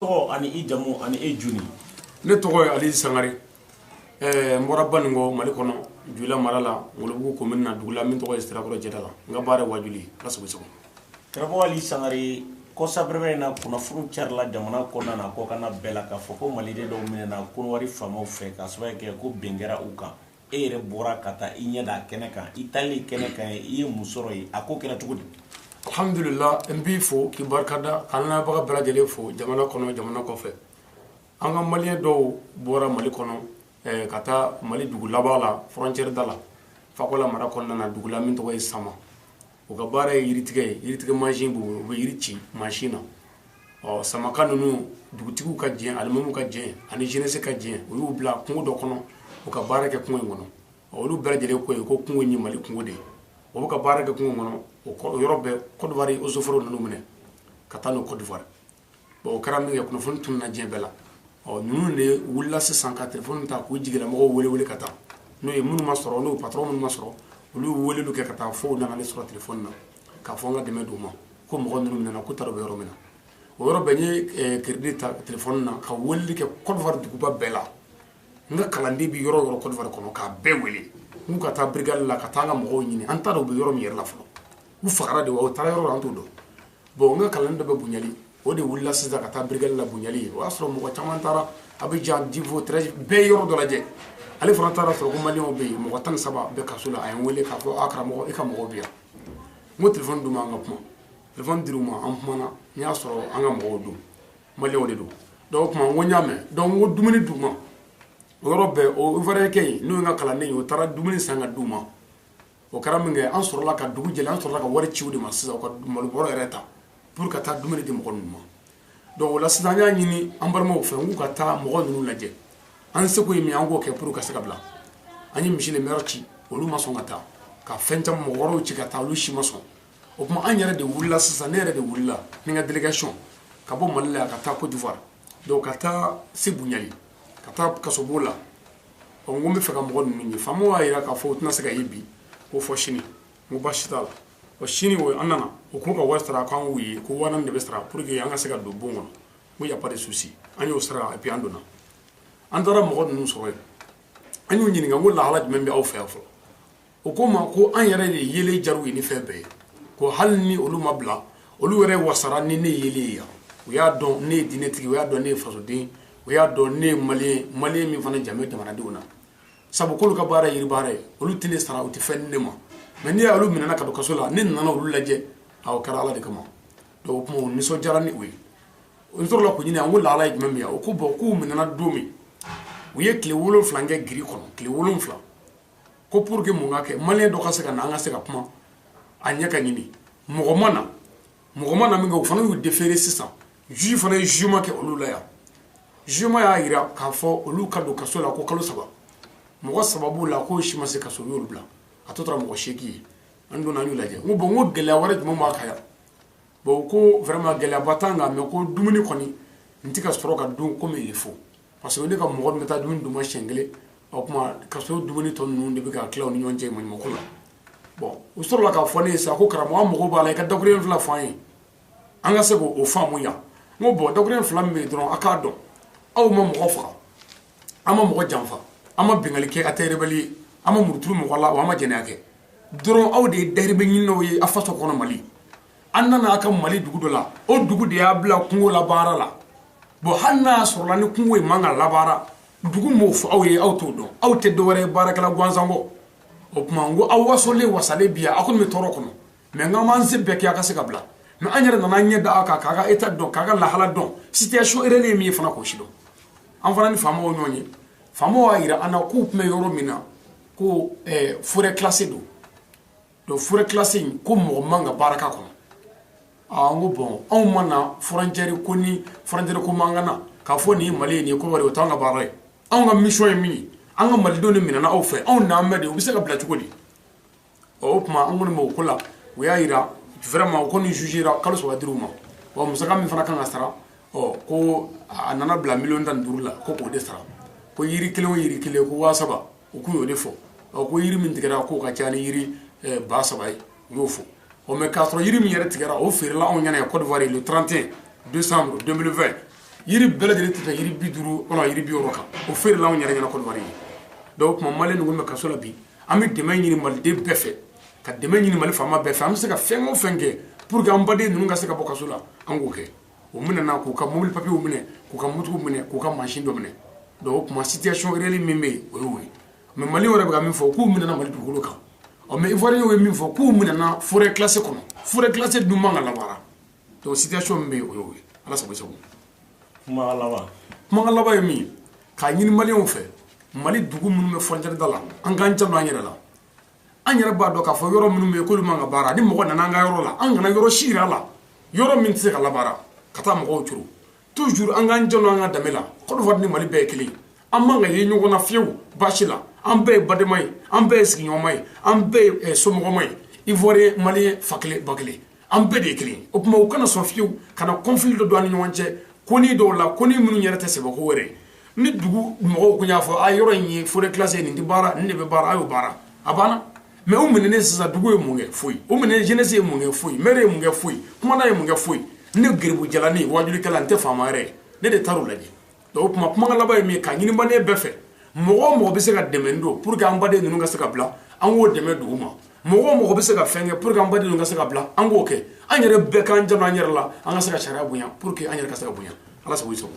tɔgɔ ani i jamu ani e ye jɔn ye ne tɔgɔ ye ali sangare eh, n bɔra baninkɔ mali kɔnɔ joyila mara la ngolobugu komini na dugu la min tɔgɔ ye sirakɔrɔ jɛda la n ka baara ye wajuli ye ala sago aw sago karamɔgɔ ali sangare kɔsabrɛmɛ in na kunnafoni carila jamana kɔnɔna n'a kɔkanna bɛɛ la k'a fɔ ko maliden dɔw minɛna kɔnɔwari faamaw fɛ k'a sababu kɛ ko bin kɛra u kan e yɛrɛ bɔra ka taa i ɲɛ da a kɛnɛ kan i taali kɛnɛ kan i ye mun sɔrɔ yen a ko kɛra cogo di alhamdulila n b'i fo k'i barikada k'an lamɛnbaga bɛɛ lajɛlen fo jamana kɔnɔ jamana kɔfɛ an ka maliyɛn dɔw bɔra mali kɔnɔ eh, ka taa mali dugu laban la frontiɛri da la fakola mara kɔnɔna na dugu la min tɔgɔ ye sama u ka baara ye yiritigɛ ye yiritigɛ mansin u bɛ yiri ci mansin na ɔ samaka ninnu dugutigi ka jɛn alimamu ka jɛn ani jeunesse ka jɛn u y'u bila kungo dɔ kɔnɔ u ka baara kɛ kungo in kɔnɔ olu bɛɛ lajɛlen ko yen ko kungo in ye mali kungo de ye u ka baara kɛ kungo kɔnɔ o yɔrɔ bɛɛ kɔdiwari eaux et forêts nana u minɛ ka taa n'u kɔdiwari o kɛra min kɛ kunnafoni tununa diɲɛ bɛɛ la ɔ ninnu de wulila sisan ka telefɔni ta k'u jigila mɔgɔw wele wele ka taa n'o ye minnu ma sɔrɔ n'u patɔrɔn minnu ma sɔrɔ olu wele weleliw kɛ ka taa fo nana ne sɔrɔ telefɔni na k'a fɔ an ka dɛmɛ d'u ma ko mɔgɔ ninnu minɛna k'u t'a dɔn u bɛ yɔrɔ min na o yɔrɔ bɛɛ n ye eh, kiridi ta telefɔni na ka weleli kɛ kɔdiwari duguba bɛɛ la n ka kalanden bɛ yɔrɔ o yɔrɔ kɔdiwari kɔnɔ k'a bɛɛ wele n k'u ka taa birigadi la ka taa an ka mɔgɔw ɲini an t'a dɔn u bɛ yɔrɔ min yɛrɛ la fɔlɔ u fagara de wa u taara yɔrɔ la an t'o dɔn bon n ka kalanden dɔ bɛ bunjali o de wulila sisan ka taa birigadi la bunjali yen o y'a sɔrɔ mɔgɔ caman taara abijan divo tɛrɛzi bɛɛ yɔrɔ dɔ lajɛ ale fana taar'a sɔrɔ ko maliyɛnw bɛ yen mɔgɔ tan ni saba bɛ kaso la a ye n wele k'a fɔ a karamɔgɔ i ka mɔgɔw bɛ yan n ko telefɔni d'u ma an ka kuma telefɔni dir'u ma an kumana n y'a sɔrɔ an ka mɔgɔw don maliyɛnw de don donc o tuma n ko n y'a mɛn donc n ko dumuni d'u ma o yɔrɔ bɛɛ o ivoiriyɛnkɛ in n'o ye n ka kalanden ye o taara dumuni san ka d'u ma o kɛra min kɛ an sɔrɔla ka dugu jɛlen an sɔrɔla ka wari ci o de ma sisan ka malo bɔrɛ yɛrɛ ta pour ka taa dumuni di mɔgɔ ninnu ma donc o la sisan n y'a ɲini an balimaw fɛ k'u ka taa mɔgɔ ninnu lajɛ an seko ye min an k'o kɛ pour ka se ka bila an ye miseni mɛri ci olu ma sɔn ka taa ka fɛn caman mɔgɔ wɛrɛw ci ka taa olu si ma sɔn o tuma an yɛrɛ de wulila sisan ne yɛrɛ de wulila ni n ka delegasiyɔn ka bɔ mali la ka taa kɔdiwari donc ka taa se bunjali ka taa kasobon la ɔ n ko n b'a fɛ ka mɔgɔ ninnu ye faama y'a jira k'a fɔ o tɛna se ka ye bi ko fo sini n ko baasi t'a la ɔ sini o an nana u k'u ka wari sara k'an k'u ye ko waa naani de bɛ sara pour que an ka se ka don bon kɔnɔ n ko y a pas de souci an y'o sara et puis an donna an taara mɔgɔ ninnu sɔrɔ yen an y'u ɲininka n ko lahala jumɛn bɛ aw fɛ yan fɔlɔ o ko ma ko an yɛrɛ de yelen diyara u ye ni fɛn bɛɛ ye ko hali ni olu ma bila olu yɛrɛ wasara ni ne yelen ye yan o y'a dɔn ne ye diinɛtigi o y'a dɔn ne ye fasoden o y'a dɔn ne ye mali mali min fana jamu jamanadenw na sabu k'olu ka baara yiri baara ye olu tɛ ne sara u tɛ fɛn di ne ma mɛ n'i y'olu minɛna ka don kaso la ne nana olu lajɛ a kɛra ala de kama donc o tuma nisɔn diyara ni o ye o tora la k'u ɲininka u lahala ye jumɛn min yan o ko bɔn k'u minɛna don min u ye tile wolonwula kɛ giri kɔnɔ tile wolonwula ko pour que mun ka kɛ maliyɛn dɔ ka se ka na an ka se ka kuma a ɲɛ ka ɲini mɔgɔ ma na mɔgɔ ma na min kɛ o fana y'u déféré sisan juge fana ye jugement kɛ olu la yan jugement y'a jira k'a fɔ olu ka don kaso la ko kalo saba mɔgɔ saba b'u la k'o si ma se kaso u y'olu bila a tɔ tora mɔgɔ seegin ye an donna an y'u lajɛ n ko bɔn n ko gɛlɛya wɛrɛ jumɛn b'a kan yan bɔn ko vraiment gɛlɛyaba t'an kan mɛ ko dumuni kɔni n tɛ ka sɔrɔ ka dun comme il faut parce que ne ka mɔgɔ min bɛ taa dumuni d'u ma siɲɛ kelen o tuma kaso dumuni tɔ ninnu de bɛ ka tila u ni ɲɔgɔn cɛ maɲumako la bɔn u sɔrɔla k'a fɔ ne ye sa ko karamɔgɔ an mago b'a la i ka dakurun fila fɔ an ye an ka se k'o faamu yan n ko bɔn dakurun fila min bɛ yen dɔrɔn a k'a dɔn aw ma mɔgɔ faga a ma mɔgɔ janfa a ma binkanni kɛ a tɛ rebɛli ye a ma muru turu mɔgɔ la wa a ma jɛnɛya kɛ dɔrɔn aw de ye dayirimɛ ɲininaw ye a faso kɔnɔ mali an nana a ka mali dugu dɔ la o dugu de y'a bila kungo la baara la bɔn hali n'a sɔrɔla ni kungo ye man ka labaara dugu m'o fɔ aw ye aw t'o dɔn aw tɛ dɔwɛrɛ ye baarakɛla gansan kɔ o tuma n ko aw wasolen wasalen bi aw kɔni bɛ tɔɔrɔ kɔnɔ mɛ n k'an b'an se bɛɛ kɛ a ka se ka bila mɛ an yɛrɛ nana ɲɛ da a kan k'a ka état dɔn k'a ka lahala dɔn situation réelle ye min ye fana k'o sidɔn an fana ni faamaw ɲɔgɔn ye faamaw y'a jira an na k'u tun bɛ yɔrɔ min na ko forêt classée don donc forêt classée in ko mɔgɔ man ka baara k'a kɔnɔ aa n ko bɔn anw ma na frontière ko ni frontière ko ma an ka na k'a fɔ nin ye mali ye nin ye kɔdiwari o t'an ka baara ye anw ka mission ye min ye an ka malidenw de minɛna aw fɛ anw n'an bɛ de u bɛ se ka bila cogo di ɔ o tuma an kɔni b'o ko la u y'a yira vraiment u kɔni jugera kalo saba dira u ma wa musaka min fana kan ka sara ɔ ko a nana bila miliyɔn tan ni duuru la ko k'o de sara ko yiri kelen o yiri kelen ko waa saba u tun y'o de fɔ ɔ ko yiri min tigɛra k'o ka ca ni yiri eh, ba saba ye u y'o fɔ ɔ mɛ k'a sɔrɔ yiri min yɛrɛ tigɛra o feerela anw ɲɛna yan Côte d'Ivoire le 31 décembre 2020 yiri bɛɛ lajɛlen tɛ tɛmɛ yiri bi duuru wala yiri bi wɔɔrɔ kan o feerela anw yɛrɛ ɲɛna Côte d'Ivoire donc o tuma maliyɛn ninnu bɛ kaso la bi an bɛ dɛmɛ ɲini maliden bɛɛ fɛ ka dɛmɛ ɲini mali faama bɛɛ fɛ an bɛ se ka fɛn o fɛn kɛ pour que an baden ninnu ka se ka bɔ kaso la an k'o kɛ u minɛna k'u ka mobili papiyew minɛ k'u ka motow minɛ k'u ka mansin dɔ minɛ donc o tuma situation réelle min bɛ yen o y'o ye mais Mali yɛrɛ bɛ ka min fɔ k'u minɛna Mali dugukolo kan ɔ mais Ivoirien ye min fɔ k'u minɛna forêt classée kɔnɔ forêt classée dun man ka labaara donc situation min bɛ yen o y'o ye Ala sago i sago kumakan laban kumakan laban ye min ye k'a ɲini Maliens fɛ Mali dugu minnu bɛ frontière da la an k'an janto an yɛrɛ la an yɛrɛ b'a dɔn k'a fɔ yɔrɔ minnu bɛ yen k'olu man ka baara ni mɔgɔ nana an ka yɔrɔ la an kana yɔrɔ si yira a la yɔrɔ min tɛ se ka labaara ka taa mɔgɔw curu toujours an k'an janto an ka danbe la Côte d'Ivoire ni Mali bɛɛ ye kelen an man ka ye ɲɔgɔn na fiyewu baasi la an bɛɛ ye badema ye an bɛɛ ye sigiɲɔgɔnma ye an bɛɛ ye somɔgɔma ye Ivoirien Malien fa kelen ba kelen an bɛɛ de ye kelen o tuma u kana sɔn fiyewu ka na conflit dɔ don an ni ɲɔgɔn cɛ konin dɔw la konin minnu yɛrɛ tɛ sɛbɛko wɛrɛ ni dugu mɔgɔw kun y'a fɔ a yɔrɔ in ye forêt classée nin tɛ baara nin de bɛ baara a y'o baara a banna mais u minɛnen sisan dugu ye mun kɛ foyi u minɛnen jeunesse ye mun kɛ foyi maire ye mun kɛ foyi kumandan ye mun kɛ foyi ne garibu jalanin wajulikɛla n tɛ faama yɛrɛ ne de taar'o lajɛ O tuma kuma laban ye min ye ka ɲini Malien bɛɛ fɛ mɔgɔ o mɔgɔ bɛ se ka dɛmɛ don pour que an baden ninnu ka se ka bila an k'o dɛmɛ dugu ma mɔgɔ o mɔgɔ bɛ se ka fɛn kɛ pour que an baden ninnu ka se ka bila an k'o kɛ an yɛrɛ bɛɛ k'an janto an yɛrɛ la an ka se ka sariya bonya pour que an yɛrɛ ka se ka bonya ala sago i sago